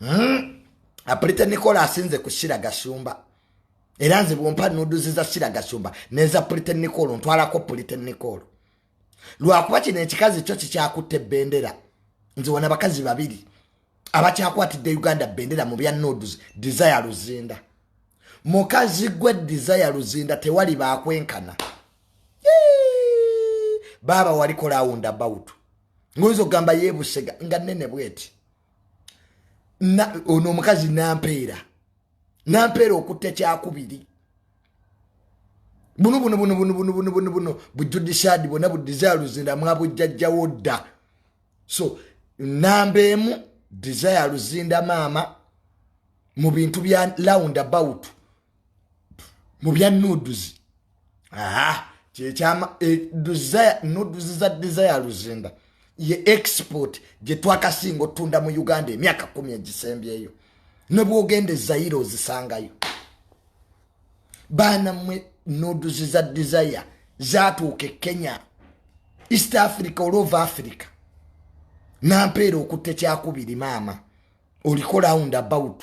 Hmm? apulite nikola asinze ku sira gashumba era nze bwompa nuduzi za sira gashumba neza pulite nikolo ntwalako pulite nikolo lwakuba kino ekikazi kyo kikyakutte bendera nze wona bakazi babiri abakyakwatidde uganda bendera mu bya nuduzi desire luzinda mukazi gwe desire luzinda tewali bakwenkana baaba walikola awunda bawutu ngoyinza okugamba yebusega nga nene bweti ono omukazi nampeera nampeera okutta ekyakubiri bunu bunu bunu bunu bunu bunu bunu bunu bujudishaadi bwona budizaaluzira mwabujjajjawo dda so namba emu desire luzinda maama mu bintu bya lound about mu bya nuduzi kyekyama e, nuduzi za desire luzinda ye export gye twakasinga otunda mu uganda emyaka kumi egisembyeyo ne bwogenda ezayire ozisangayo baana mwe nuduzi za desire zatuuka e kenya east africa olova africa nampeera okutte kyakubiri maama oliko round about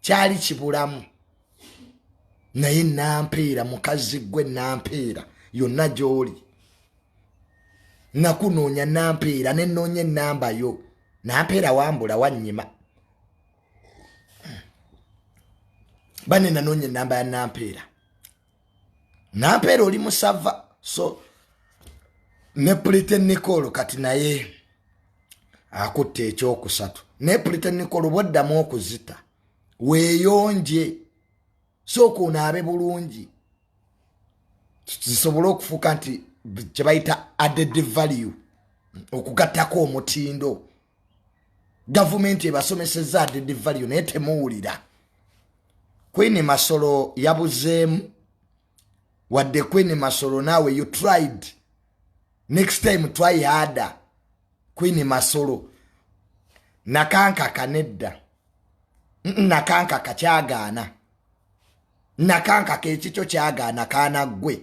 kyali kibulamu naye nampeera mukazi gwe nampeera yonna gyoli nakunoonya nampeera nenoonya enamba yo nampeera wambula wanyima bane nanoonya enamba ya nampeera nampeera oli musava so ne pulite nicol kati naye akutta ekyokusatu naye pulite nicol bwaddamu okuzita weeyonje sooka onaabe bulungi zisobole okufuuka nti kyebayita added value okugattako omutindo gavumenti ebasomeseza adede valio naye temuwulira queen masolo yabuzeemu wadde queen masolo naawe you tried next time try harder queen masolo nakankaka nedda nakankaka kyagaana nakankaka ekikyo kyagaana kaana ggwe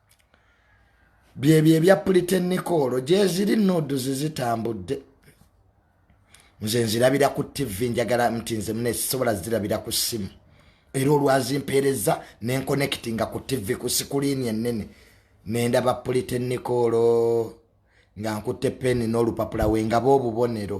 byebyo ebya pulitenikoolo gyeziri nuuduzi zitambudde nze nzirabira ku tivi njagala nti nze mune sisobola zirabira ku ssimu era olwazimpeereza nenkonekiti nga ku tivi ku sikuliini ennene nendaba pulitenikoolo nga nkutte peni n'olupapula we ngaba obubonero